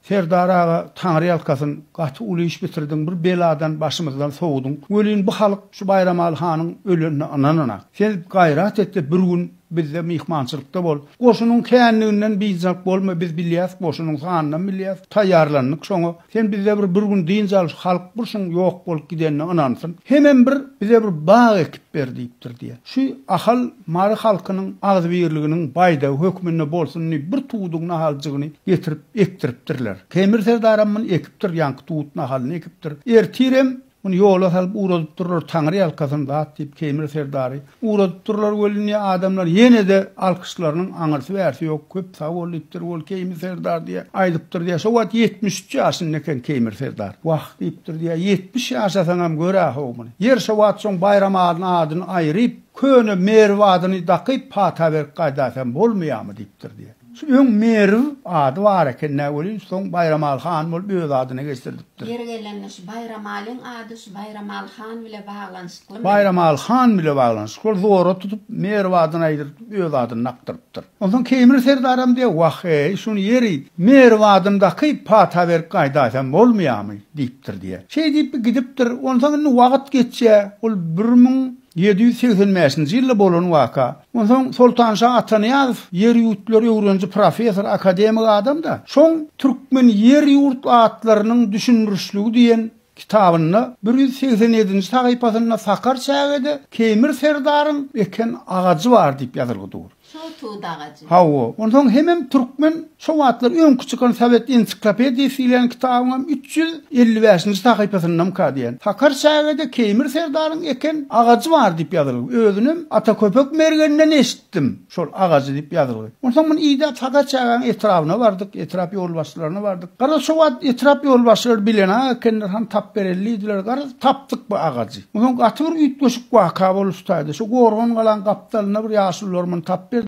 Serdar aga taňry ýalkasyn gaty uly iş bitirdiň bir beladan başymyzdan sowudyň welin bu halyk şu Baýramaly hanyň ölenine ynanana sen gaýrat etde bir gün bizde myhmançylykda bol goşunyň känliginden biynjak bolma biz bilýäs goşunyň sanynam bilýäs taýýarlandyk şoňa sen bizde bir bir gün dynç al şu halyk bir şuň ýok bolup gidenine ynansyn hemem bir bize bir bag ekip ber diýipdir diýe. Şu Ahal Mary halkynyň agzybirliginiň baýdagy hökmünde bolsun diýip bir tuduň nahaljygyny getirip ekdiripdirler. Temir serdaram muny ekipdir, ýaňky tut nahalyny ekipdir. Ertirem muny ýola salyp ugradypdyrlar, Taňry ýalkasyn zat diýip Temir serdary ugradypdyrlar welin diýýär, adamlar ýene-de alkyşlarynyň aňyrsy-bärsi ýok, köp sag bol diýipdir ol Keýmir serdar diýýär, aýdypdyr diýýär, şo wagt ýetmiş üç ýaşynda eken Keýmir serdar. Wah! Diýip durdy, ýa ýetmiş ýaşasaňam gör-ä-how muny. Ýeri şo wagt soň Baýramalyň adyny aýryp, köne Merw adyny dakyp pata berip gaýdaýsam bolmaýarmy diýip durdy. Şu öň Merw ady bar eken-dä welin, soň Baýramaly han bolup öz adyna geçirdipdir. Ýeri gelende şu Baýramalyň ady şu Baýramaly han bile baglanyşyklymy? Baýramaly han bile baglanyşykly. Ol zora tutup Merw adyny aýdyrdip öz adyny dakdyrypdyr. Onsoň Keýmir serdaram diýýär, Wah-eý, şuny ýeri, merwadyny dakyp, pata berip gaýdaýsam bolmaýarmy? diýipdir diýýär. Şeý diýip, bi gidipdir. Onsoň indi wagt geçýär. Ol bir müň ýedi ýüz segsen bäşinji ýylda bolan waka. Onsoň Soltanşa Atanyýazow ýer-ýurtlar öwreniji professor, akademik adam-da. Şoň Türkmen ýer-ýurt atlarynyň düşündirişligi diýen kitabynda bir ýüz segsen ýedinji sahypasynda Sakar çägede Keýmir serdaryň eken agajy bar diýip ýazylgy dur. Şol tut agajy. Hawa, onsoň hemem türkmen şo wagtlar öňki çykan Sowet ensiklopediyasy diýlen kitabyňam üç ýüz elli bäşinji sahypasyndamyka diýen. Sakar çägede Keýmir serdaryň eken agajy bar diýip ýazylgy. Özünem Ata Köpek mergeninden eşitdim şol agajy diýip ýazylgy. Onsoň muny idäp Sakar çägäniň etrabyna bardyk, etrap ýolbaşçylaryna bardyk. Garaz, şo wagt etrap ýolbaşçylary bilenak ekenler, han tapbereldiydiler. Garaz, tapdyk bu agajy. Onsoň gaty bir üýtgeşik waka boluşdaýdy. Şu gorgan galaň gapdalynda bir ýaşulylarmyny tapyp berdiler.